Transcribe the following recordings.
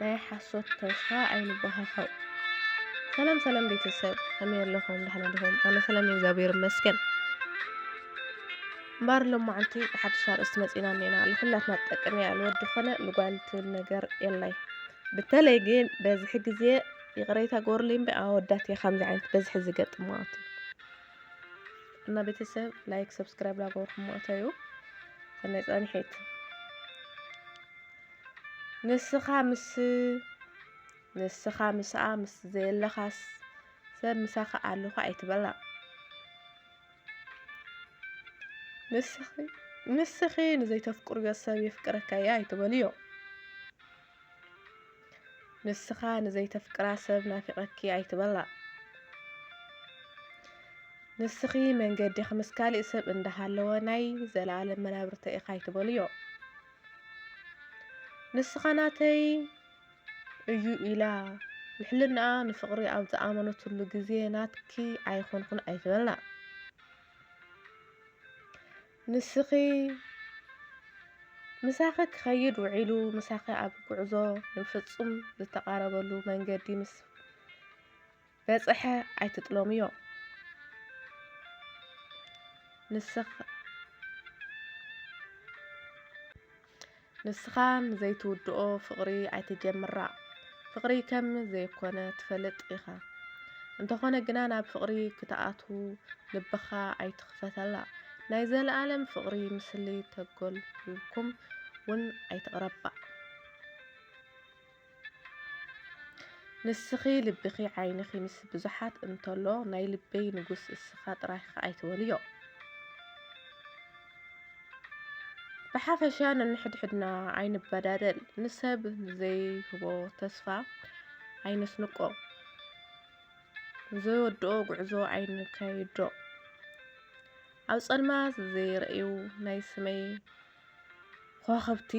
ናይ ሓሶት ተስፋ ኣይንበሃሃው። ሰላም ሰላም ቤተሰብ ከመይ ኣለኹም? ደህና ድኹም? ኣነ ሰላም እግዚኣብሔር ይመስገን። እምበር ሎማዓንቲ ብሓድሽ ኣርእስቲ መፂና እኒና ንኩላትና ትጠቅም እያ ንወዲ ኮነ ንጓል ትብል ነገር የላይ። በተለይ ግን በዝሒ ግዜ ይቕሬታ ጎርልኝ እምበር ኣወዳት እየ ከምዚ ዓይነት በዝሒ ዝገጥም ማለት እዩ እና ቤተሰብ ላይክ ሰብስክራይብ ላገበርኩም ማለት እዩ ሰናይ ፃኒሒት ንስኻ ምስ ንስኻ ምስኣ ምስ ዘየለኻስ ሰብ ምሳኻ ኣለኹ ኣይትበላ። ንስኺ ንስኺ ንዘይተፍቅርዮ ሰብ የፍቅረካያ ኣይትበልዮ። ንስኻ ንዘይተፍቅራ ሰብ ናፊቐኪ ኣይትበላ። ንስኺ መንገዲኺ ምስ ካሊእ ሰብ እንዳሃለወ ናይ ዘላኣለም መናብርተይ ኢኻ ኣይትበልዮ። ንስኻ ናተይ እዩ ኢላ ንሕልናኣ ንፍቕሪ ኣብ ዝኣመነትሉ ግዜ ናትኪ ኣይኮንኩን ኣይትበልና። ንስኺ ምሳኺ ክኸይድ ውዒሉ ምሳኺ ኣብ ጉዕዞ ንፍጹም ዝተቓረበሉ መንገዲ ምስ በጸሐ ኣይትጥሎምዮ ንስኻ ንስኻ ንዘይትውድኦ ፍቕሪ ኣይትጀምራ ፍቕሪ ከም ዘይኮነ ትፈልጥ ኢኻ እንተኾነ ግና ናብ ፍቕሪ ክትኣትዉ ልብኻ ኣይትኽፈተላ ናይ ዘለኣለም ፍቕሪ ምስሊ ተጎልኩም ውን ኣይትቕረባ ንስኺ ልብኺ ዓይንኺ ምስ ብዙሓት እንተሎ ናይ ልበይ ንጉስ እስኻ ጥራይካ ኣይትበልዮ። ብሓፈሻ ነንሕድሕድና ኣይንበዳደል፣ ንሰብ ዘይህቦ ተስፋ ኣይነስንቆ፣ ዘይወድኦ ጉዕዞ ኣይንካይዶ። ኣብ ጸልማት ዘይርእዩ ናይ ስመይ ኾኸብቲ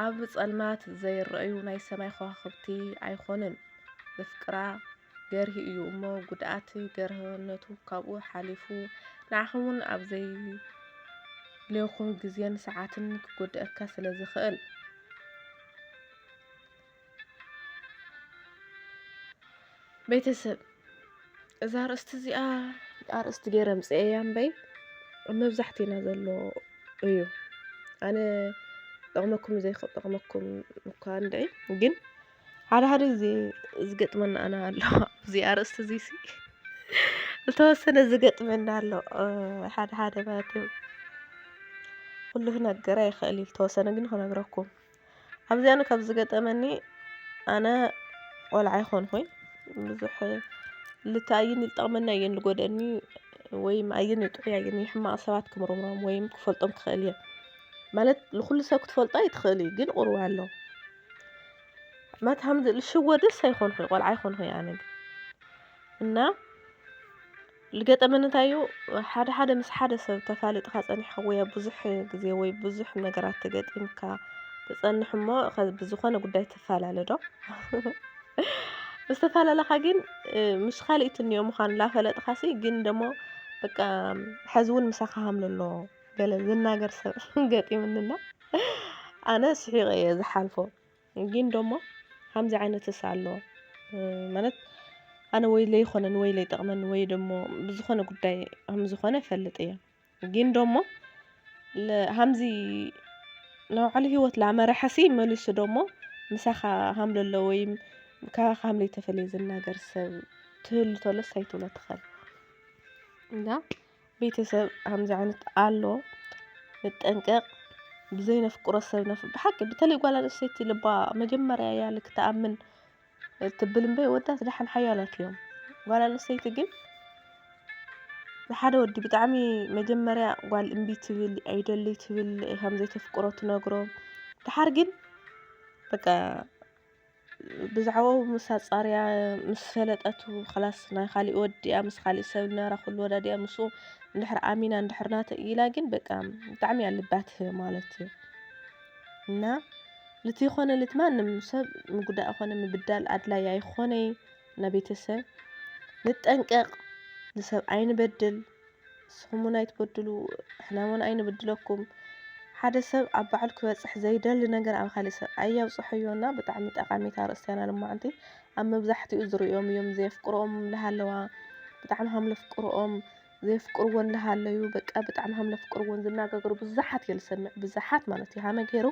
ኣብ ጸልማት ዘይረኣዩ ናይ ሰማይ ኸዋኽብቲ ኣይኮኑን። ዘፍቅራ ገርሂ እዩ እሞ ጉድኣት ገርህነቱ ካብኡ ሓሊፉ ንዓኹም'ውን ኣብ ዘየድልየኩም ግዜን ሰዓትን ክጎድኣካ ስለዝኽእል። ቤተሰብ እዛ ኣርእስቲ እዚኣ ኣርእስቲ ገይረ ምፅኤያ እምበይ ኣብ መብዛሕትእና ዘሎ እዩ ኣነ ጠቕመኩም ዘይጠቕመኩም እኳ እንድዒ ግን ሓደ ሓደ ግዜ ዝገጥመና ኣና ኣሎ እዚ ኣርእስቲ እዚ ሲ ዝተወሰነ ዝገጥመና ኣሎ ሓደ ሓደ ማለት እዩ ኩሉ ክነገር ኣይኽእል እዩ ዝተወሰነ ግን ክነግረኩም ኣብዚኣን ካብ ዝገጠመኒ ኣነ ቆልዓ ኣይኮንኩይ ብዙሕ ልተ ኣየን ልጠቕመኒ ኣየን ልጎድኣኒ ወይም ኣየን ጥዑይ ኣየን ሕማቕ ሰባት ክምርምሮም ወይም ክፈልጦም ክኽእል እየ ማለት ንኹሉ ሰብ ክትፈልጦ ኣይትኽእል እዩ ግን ቁርብ ኣሎ ማለት ሃምዚ ልሽወድስ ኣይኮንኩይ ቆልዓ ኣይኮንኩይ ኣነ ግን እና ልገጠመኒ እንታይ እዩ ሓደ ሓደ ምስ ሓደ ሰብ ተፋሊጥኻ ጸኒሕካ ወይ ኣብ ብዙሕ ግዜ ወይ ብዙሕ ነገራት ተገጢምካ ትጸንሕ እሞ ከ- ብዝኾነ ጉዳይ ትፈላለ ዶ ምስ ተፈላለኻ ግን እ፣ ምስ ካልእ ትንዮ ምዃኑ ላፈለጥኻሲ ግን ደሞ በቃ ሕዚ እውን ምሳኻ ሃምለ ኣሎ ገለ ዝናገር ሰብ ገጢምንና ኣነ ስሒቐ እየ ዝሓልፎ ጊን ዶሞ ሃምዚ ዓይነትስ ኣሎ ማለት ኣነ ወይ ለይኾነኒ ወይ ለይጠቕመኒ ወይ ደሞ ብዝኾነ ጉዳይ ሃምዝኾነ እፈልጥ እየ ጊን ዶሞ ሃምዚ ናብ ባዕሉ ሂወት ላመረሐሲ መሊሱ ዶሞ ምሳኻ ሃም ለሎ ወይም ካባኻ ሃም ለይተፈልየ ዝናገር ሰብ ትህሉ ተሎስ ኣይትብሎ ትኸል እና ቤተሰብ ከምዚ ዓይነት ኣሎ ንጠንቀቅ ብዘይ ነፍቅሮ ሰብ ነፍ ብሓቂ በተለይ ጓል ኣንስተይቲ ልባ መጀመርያ እያ ልክ ትኣምን ትብል እምበይ ወዳት ደሓን ሓያላት እዮም ጓል ኣንስተይቲ ግን ንሓደ ወዲ ብጣዕሚ መጀመርያ ጓል እምቢ ትብል ኣይደሊ ትብል ከም ዘይተፍቅሮ ትነግሮ ደሓር ግን በቃ ብዛዕባኡ ምስ ኣጻርያ ምስ ፈለጠቱ ኸላስ ናይ ኻሊእ ወዲኣ ምስ ኻሊእ ሰብ ናራ ኹሉ ወዳዲኣ ምስኡ እንድሕር ኣሚና እንድሕር ናተይ ኢላ ግን በቃ ብጣዕሚ እያ ልባ ትህብ ማለት እዩ እና ልቲ ኾነ ልት ማንም ሰብ ምጉዳእ ኾነ ምብዳል ኣድላይ ኣይኾነይ እና ቤተሰብ ንጠንቀቕ ንሰብ ኣይንበድል ንስኹም እውን ኣይትበድሉ፣ ንሕና እውን ኣይንብድለኩም። ሓደ ሰብ ኣብ ባዕሉ ክበጽሕ ዘይደሊ ነገር ኣብ ካልእ ሰብ ኣየብጽሖዮ እና ብጣዕሚ ጠቃሚት ኣርእስቲ እያ ናልማዓንቲ ኣብ መብዛሕቲኡ ዝርእዮም እዮም ዘየፍቅርኦም እንዳሃለዋ ብጣዕሚ ሃም ለፍቅርኦም ዘየፍቅርዎ እንዳሃለዩ በቃ ብጣዕሚ ሃም ለፍቅርዎን ዝናጋገሩ ብዙሓት እየ ዝሰምዕ ብዙሓት ማለት እዩ ሃመ ገይሩ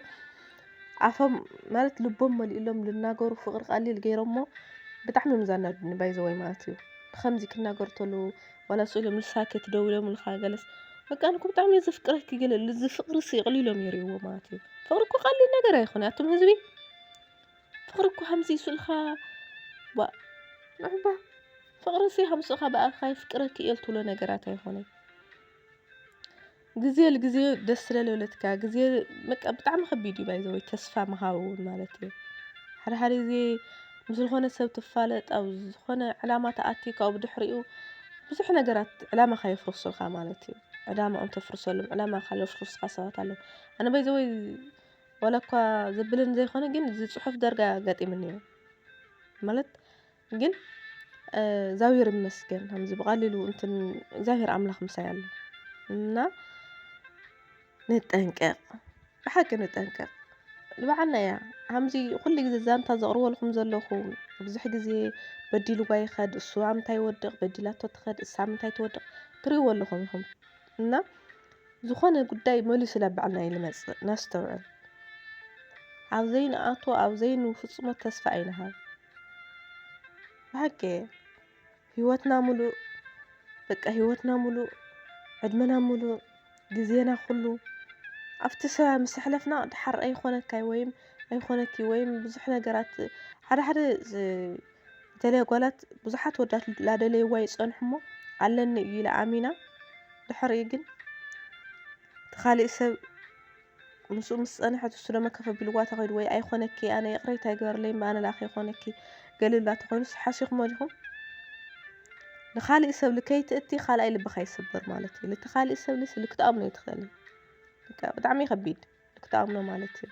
ኣፎም ማለት ልቦም መሊእሎም ልናገሩ ፍቅሪ ቀሊል ገይሮሞ ብጣዕሚ እዮም ዛናዱኒ ባይዘወይ ማለት እዩ ብከምዚ ክናገሩ ተለዉ ዋላ ስእሉ ምልሳኪ ትደውለምልካ ገለስ በቃ ኣነ እኮ ብጣዕሚ እየ ዘፍቅረኪ ግን እዚ ፍቅሪ እሲ ኣቅሊሎም የሪእዎ ማለት እዩ ፍቅሪ እኮ ቀሊል ነገር ኣይኮነ ኣቱም ህዝቢ ፍቅሪ እኮ ሃምዚ ስእልካ ባ ንዕባ ፍቅሪ እሲ ሃምስእካ ብኣካ ይፍቅረኪ እየ ትብሎ ነገራት ኣይኮነይ ግዜ ልግዜ ደስ ስለ ልብለትካ ግዜ በቃ ብጣዕሚ ከቢድ እዩ ባይ ዘ ወይ ተስፋ ምሃብ እውን ማለት እዩ ሓደ ሓደ ግዜ ምስ ዝኾነ ሰብ ትፋለጥ ኣብ ዝኾነ ዕላማ ተኣትዩ ካብኡ ብድሕሪኡ ብዙሕ ነገራት ዕላማኻ የፍርሱልካ ማለት እዩ ዕላማኦም ተፍርሰሎም ዕላማኻ ዘፍርሱልካ ሰባት ኣለዉ ኣነ ባይ ዘ ወይ ዋላ እኳ ዘብለኒ ዘይኮነ ግን እዚ ፅሑፍ ዳርጋ ኣጋጢሙኒ እዩ ማለት ግን እግዚኣብሔር ይመስገን ከምዚ ብቀሊሉ እንትን እግዚኣብሔር ኣምላክ ምሳይ ኣሎ እና ንጠንቀቅ ብሓቂ ንጠንቀቅ ንባዕልና እያ ከምዚ ኩሉ ግዜ ዛንታ ዘቅርበልኩም ዘለኩ ብዙሕ ግዜ በዲልዋ ይከድ እሱ ኣብ ምንታይ ይወድቅ በዲላቶ ትከድ እሳ ኣብ ምንታይ ትወድቅ ትሪእዎ ኣለኩም ኢኩም እና ዝኮነ ጉዳይ መሊሱ ናብ ባዕልና እዩ ዝመፅእ ነስተውዕል ኣብ ዘይንኣትዎ ኣብ ዘይንፍፅሞ ተስፋ ኣይንሃብ ብሓቂ ህይወትና ሙሉእ በቃ ህይወትና ሙሉእ ዕድመና ሙሉእ ግዜና ኩሉ ኣብቲ ስራ ምስ ኣሕለፍና ደሓር ኣይኾነካ እዩ ወይም ኣይኾነኪ እዩ ወይም ብዙሕ ነገራት ሓደ ሓደ ዝተለያ ጓላት ብዙሓት ወዳት ላደለይዋ ይፀንሑ እሞ ኣለኒ እዩ ኢላ ኣሚና ድሕሪኡ ግን እቲ ካሊእ ሰብ ምስኡ ምስ ጸንሐት እሱ ደማ ከፍ ኣቢልዋ ተኺዱ ወይ ኣይኮነኪ ኣነ ይቕሬታ ይግበርለይ እምበ ኣነ ለኣኺ ይኮነኪ ገለ ኢሉላ ተኾይኑስ ሓሲኹሞ ዲኹም ንኻሊእ ሰብሊ ከይትእቲ ካልኣይ ልብኻ ይስበር ማለት እዩ ልቲ ካሊእ ሰብሊ ስሊ ክትኣምኖ ይትኽእል ብጣዕሚ ከቢድ ክትኣምኖ ማለት እዩ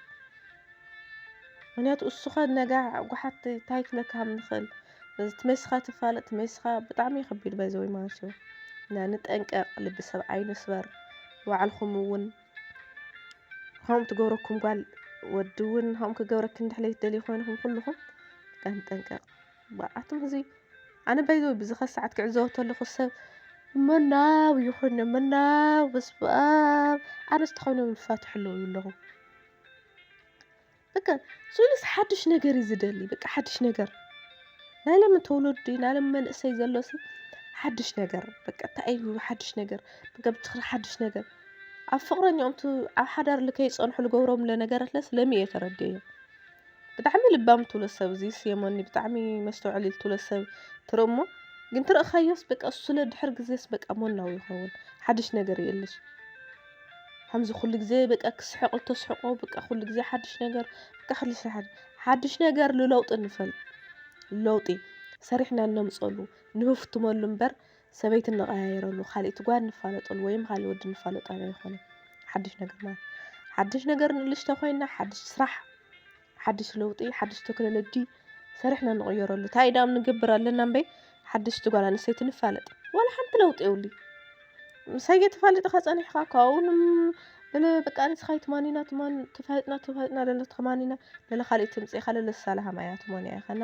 ምክንያቱ እሱኸ ነጋ ጓሓት እንታይ ክብለካ ከም ንኽእል ትመሲኻ ትፋለጥ ትመሲኻ ብጣዕሚ ከቢድ ባይዘወይ ማለት እዩ እና ንጠንቀቕ ልቢ ሰብ ኣይንስበር ባዕልኹም እውን ከምኡ ትገብረኩም ጓል ወዲ እውን ከምኡ ክገብረኪ እንድሕር ዘይትደልዩ ኮይንኩም ኩልኩም ጠንጠንቀቕ ብኣቱም ህዝቢ ኣነ ባይዘ ብዝኸ ሰዓት ክዕዘቦ ተለኹ ሰብ መናው ይኹን መናው በስበኣብ ኣነስ ተኸይኖም ይፋትሑ ኣለዉ ኣለኹ በቃ ሱሉስ ሓዱሽ ነገር እዩ ዝደሊ በቃ ሓዱሽ ነገር ናይ ሎሚ ተወለዱ ናይ ሎሚ መንእሰይ ዘሎ ሲ ሓዱሽ ነገር በቃ እንታይ እዩ ሓዱሽ ነገር በቃ ብትኽሪ ሓዱሽ ነገር ኣብ ፍቕረኛኦም ቱ ኣብ ሓዳር ከይፀንሑ ዝገብሮም ነገራት ለስ ለሚ እየ ተረዲኤ ብጣዕሚ ልባም ትብሎ ሰብ እዚ ስየሞኒ ብጣዕሚ መስተውዕሊ ትብሎ ሰብ ትርኢ እሞ ግን ትርእኻዮስ በቃ ስለ ድሕር ግዜስ በቃ ሞናው ይኸውን ሓዱሽ ነገር የለሽ ከምዚ ኩሉ ግዜ በቃ ክስሕቅ እተስሕቆ በቃ ኩሉ ግዜ ሓድሽ ነገር በቃ ኩሉ ግዜ ሓድሽ ነገር ንለውጢ ንፈል ለውጢ ሰሪሕና እነምፀሉ ንህፍትመሉ እምበር ሰበይቲ እንቐያየረሉ ካልእቲ ጓል ንፋለጠሉ ወይም ካልእ ወዲ ንፋለጠሉ ኣይኮነን ሓድሽ ነገር ማለት ሓድሽ ነገር ንእልሽ ተኾይና ሓድሽ ስራሕ ሓድሽ ለውጢ ሓድሽ ተክኖሎጂ ሰሪሕና ንቕየረሉ ታይ ዳኣም ንገብር ኣለና እምበይ ሓደሽቲ ጓል ኣንስተይቲ ንፋለጥ ዋላ ሓንቲ ለውጢ የብሉ ምሳይ ገተፋልጥኻ ፀኒሕኻ ካብኡ በቃ ንስኻ ይትማኒና ትማን ተፋልጥና ተፋልጥና ለለ ትማኒና ለለ ካልእ ተምፅእኻ ለለ ሳላሃም ኣያ ትማን ኣያ ኸና